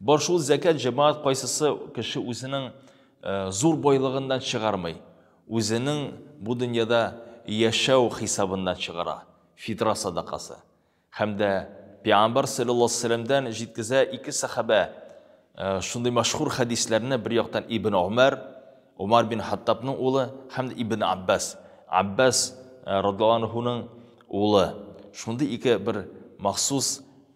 Бар шул зәкәт җәмаат кайсысы кеше үзенең э, зур байлыгыннан чыгармый, үзенең бу дөньяда яшәү хисабыннан чыгара, фитра садакасы. Һәм дә Пиамбар саллаллаху алейхи вәсәләмдән җиткезә ике сахабә э, шундый мәшһүр хәдисләрне бер яктан Ибн Умар, Умар бин Хаттабның улы һәм дә Ибн Аббас, Аббас э, радиллаһу улы. Шундый ике бер махсус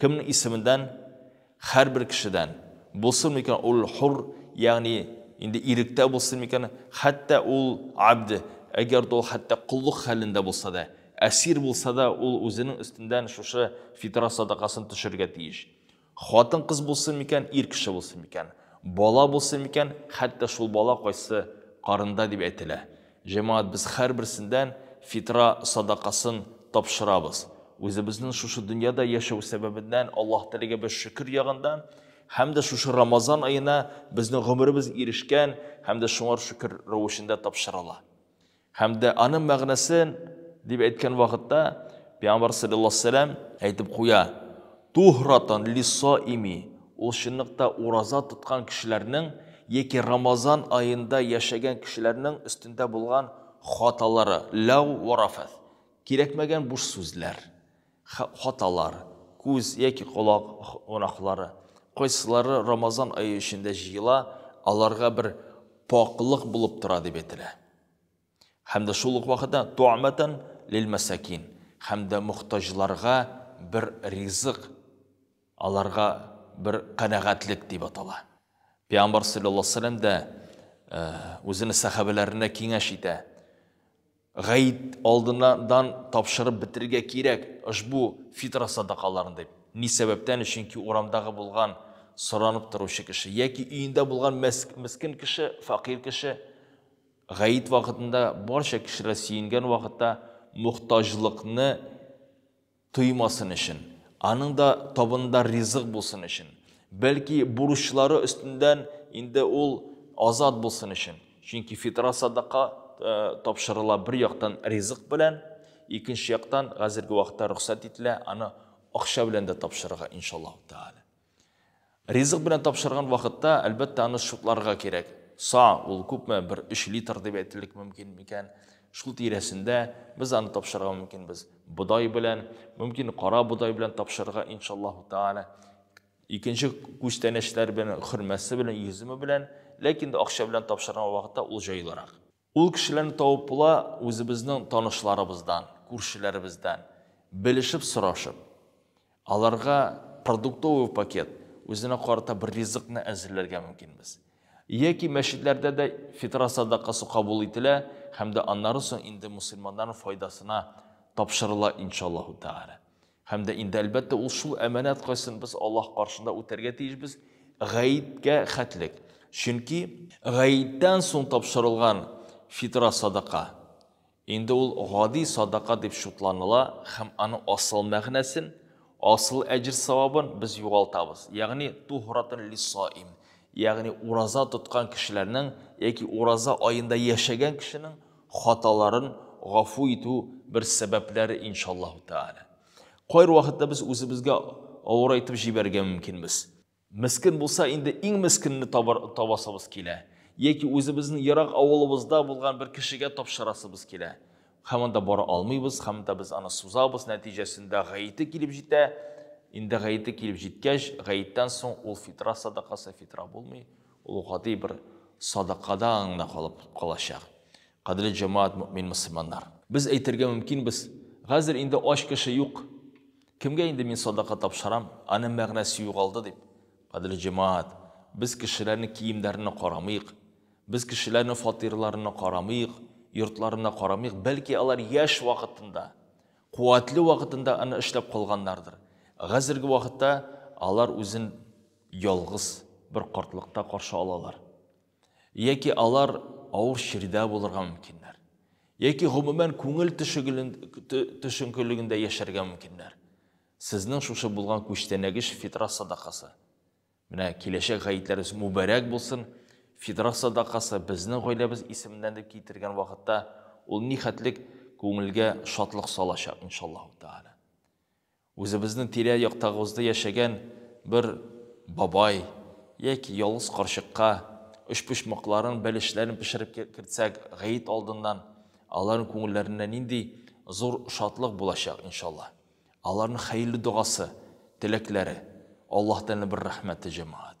Кемнең исеменнән, һәрбер кешедән, булсын микән ул хур, ягъни инде иректә булсын микән, хәтта ул абд, әгәр дә ул хәтта коллык хәлендә булса да, әсир булса да, ул үзенең өстеннән шушы фитра садакасын төшерергә тиеш. Хатын-кыз булсын микән, ир кеше булсын микән, бала булсын микән, хәтта шул бала кайсы карында дип әйтелә. Җәмәгать без хәрберсендән фитра садакасын тапшырабыз. Үзебезнен шушы дөньяда яшәү сәбәбеннән Аллаһ телегә без шөкер ягында һәм дә шушы Рамазан аена безнең гомеребез ирешкән һәм дә шуңар шөкер рәвешендә тапшырыла. Һәм дә аның мәгънәсен дип әйткән вакытта Пәйгамбәр саллаллаһу алейһи ва сәлләм әйтеп куя, Туһратан лиссоими, ул чынлыкта ураза тоткан кешеләрнең яки Рамазан аенда яшәгән кешеләрнең өстендә булган хаталары, ләгъ вә рафәс, кирәкмәгән буш сүзләр, хаталар, күз яки колак гөнаһлары, кайсылары Рамазан ае эчендә җыела, аларга бер пакълык булып тора дип әйтелә. Һәм дә шул ук вакытта туамәтән лилмәсәкин, һәм дә мохтаҗларга бер ризык, аларга бер канәгатьлек дип атала. Пәйгамбәр саллаллаһу алейһи ва сәлләм дә э, үзенең сәхабәләренә киңәш итә. Гайд алдыннан тапшырып бетерергә кирәк ошбу фитра садакаларын дип. Ни сәбәптән? Чөнки урамдагы булган соранып торучы кеше яки өендә булган мескен кеше, факир кеше Гает вакытында барча кешеләр сөенгән вакытта мохтаҗлыкны тоймасын өчен, аның да табында ризык булсын өчен, бәлки бурычлары өстендән инде ул азат булсын өчен. Чөнки фитра садака э, тапшырыла бер яктан ризык белән, икенче яктан хәзерге вакытта рөхсәт ителә аны акча белән дә тапшырырга иншаллаһу тааля. Ризык белән тапшырган вакытта, әлбәттә, аны шутларга кирәк. Са, ул күпме, бер өч литр дип әйтерлек мөмкин микән? Шул тирәсендә без аны тапшырырга мөмкинбез. Бодай белән, мөмкин, кара бодай белән тапшырырга, иншаллаху тааля. Икенче күчтәнәчләр белән, хөрмәсе белән, йөземе белән, ләкин дә акча белән тапшырган вакытта ул җайлырак. Ул кешеләрне табып була үзебезнең танышларыбыздан, күршеләребездән, белешеп сорашып. Аларга продуктовый пакет, үзенә карата бер ризыкны әзерләргә мөмкинбез. Яки мәчетләрдә дә фитра садакасы кабул ителә һәм дә аннары соң инде мөселманнарның файдасына тапшырыла иншаллаһу тәгалә. Һәм дә инде, әлбәттә, ул шул әманәт кайсын без Аллаһ каршында үтәргә тиешбез, гаеткә хәтлек. Чөнки гаеттән соң тапшырылган фитра садака, инде ул гади садака дип шутланыла һәм аның асыл мәгънәсен, асыл әҗер савабын без югалтабыз. Ягъни тухратан лисаим, ягъни ураза тоткан кешеләрнең яки ураза аенда яшәгән кешенең хаталарын гафу итү бер сәбәпләре иншаллаһу тәала. Кайр вакытта без үзебезгә авыр әйтеп җибәргә мөмкинбез. Мескин булса инде иң мескинне табасыбыз килә. Яки үзебезнең ерак авылыбызда булган бер кешегә тапшырасыбыз килә. Һәм анда бара алмыйбыз, һәм да без аны сузабыз, нәтиҗәсендә гаете килеп җитә. Инде гаете килеп җиткәч, гаеттән соң ул фитра садакасы фитра булмый. Ул гади бер садакадан гына калып калачак. Кадерле җәмәгать мөэмин мөселманнар! Без әйтергә мөмкинбез, Хәзер инде ач кеше юк, кемгә инде мин садака тапшырам, аның мәгънәсе югалды дип. Кадерле җәмәгать, без кешеләрнең киемнәренә карамыйк, без кешеләрнең фатирларына карамыйк, йортларына карамыйк, бәлки алар яшь вакытында, куәтле вакытында аны эшләп калганнардыр. Хәзерге вакытта алар үзен ялгыз бер картлыкта каршы алалар, яки алар авыр чирдә булырга мөмкиннәр, яки гомумән күңел төшенкелегендә яшәргә мөмкиннәр. Сезнең шушы булган күчтәнәгеш фитра садакасы. Менә киләчәк гаетләрегез мөбарәк булсын. Фитра садакасы безнең гаиләбез исеменнән дип китергән вакытта ул нихәтлек күңелгә шатлык салачак, иншаллаһу тәгалә. Үзебезнең тирә-яктагыбызда яшәгән бер бабай яки ялгыз карчыкка өчпочмакларын, бәлешләрен пешереп кертсәк, гает алдыннан, аларның күңелләренә нинди зур шатлык булачак, иншалла. Аларның хәерле догасы, теләкләре, Аллаһтан бер рәхмәте, җәмәгать.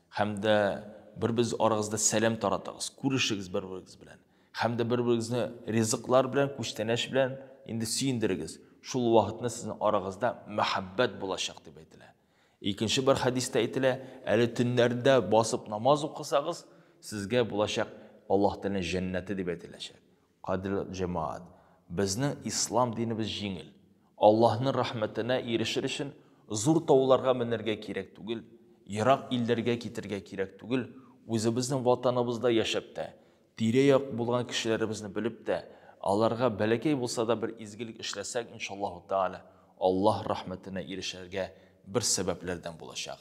Хәм дә бер без арагызда сәлам таратыгыз, күрешегез бер берегез белән. Хәм дә бер берегезне ризыклар белән, күчтәнәч белән инде сөендерегез. Шул вакытны сезнең арагызда мәхәббәт булачак дип әйтелә. Икенче бер хәдистә әйтелә, әле төннәрдә басып намаз укысагыз, сезгә булачак Аллаһ Тәгаләнең җәннәте дип әйтеләчәк. Кадерле җәмәгать, безнең ислам динебез җиңел. Аллаһның рәхмәтенә ирешер өчен зур тауларга менәргә кирәк түгел, ерак илләргә китәргә кирәк түгел, үзебезнең ватаныбызда яшәп тә, тирә-як булган кешеләребезне белеп тә, аларга бәләкәй булса да бер изгелек эшләсәк, иншаллаһу тәгалә, Аллаһ рәхмәтенә ирешергә бер сәбәпләрдән булачак.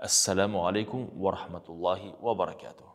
Әссәламү алейкүм вә рахмәтуллаһи вә баракәтүһ.